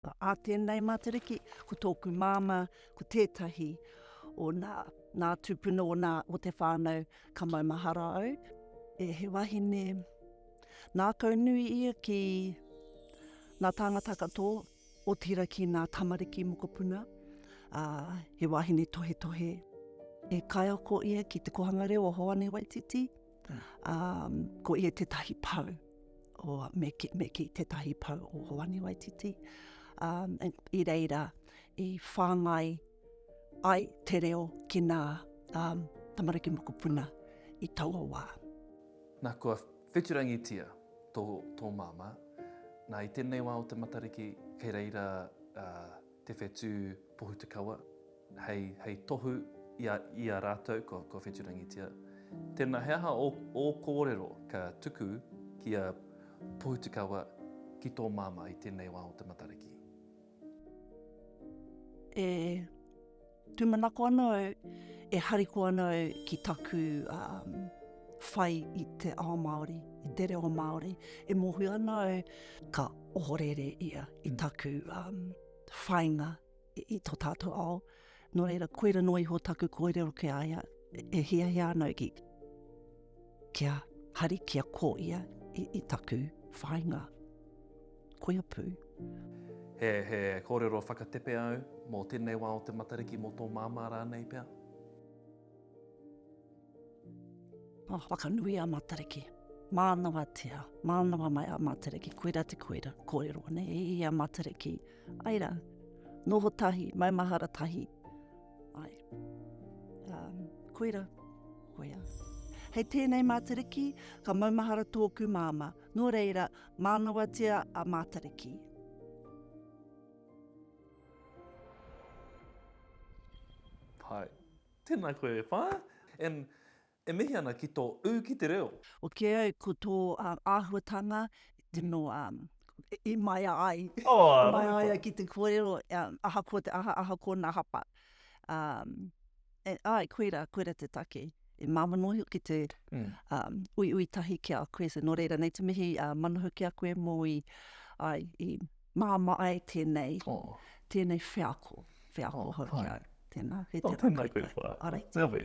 Ā tēnei Matariki, ko tōku māmā, ko tētahi o nā, nā tūpuna o nā, o te whānau, ka maumahara au, e he wahine nākau nui ia ki nā tāngata katō, otirā ki nā tamariki mokopuna, ā, he wahine tohetohe. He kaiako ia ki te kōhanga reo o Hoani Waititi. Um, ko ia tētahi pau, o, me, ki, me ki tētahi pau o Hoani Waititi. Um, I reira, i whāngai ai te reo ki nā um, tamariki mokopuna i taua wā. Nā kua wheturangitia tō, tō māmā, nā i tēnei wā o te Matariki, kei reira uh, te whetū Pohutukawa hei, hei tohu i a, i a rātou kua, kua whetūrangitia. Tēnā, he aha ō, ō kōrero ka tuku ki a Pohutukawa ki tō māmā i tēnei wā o te Matariki? E. Tūmanako ana au, e hariko ana au ki taku whai i te ao Māori, i te reo Māori. E mōhio ana au, ka ohorere ia i taku whainga i tō tātou ao. Nō reira, koira noa iho taku kōrero ki a ia, e hiahia ana au ki kia hari, kia ko ia i, i taku whainga. koia pū. He, he kōrero whakatepe au mō tēnei wā o te Matariki, mō tō māmā rānei pea. Mā whakanui a Matariki. Mānawatia, mānawa mai a Matariki, koira te koira, kōrero ane e i a Matariki. Ai rā, noho tahi, maumahara tahi. Ai, um, koira, koira. Hei tēnei Matariki, ka maumahara tōku māmā. Nō reira, Mānawatia a Mātariki. Pai. Tēnā koe e wha. And e mihi ana ki tō ū ki te reo. Oke au ko tō āhuatanga tino i maea ai, i maea ai ki te kōrero ahakoa te aha, ahakoa nā hapa. E, ai, koira, koira te take. E māma noa hoki te mm. um, ui ui tahi ki a koe. So, nō reira, nei te mihi uh, manahu ki a koe mō i, ai, i māma ai tēnei, oh. tēnei wheako, wheako oh, hau ki au. Tēnā, he tēnā. Oh, tēnā, tēnā. Arei. Tēnā.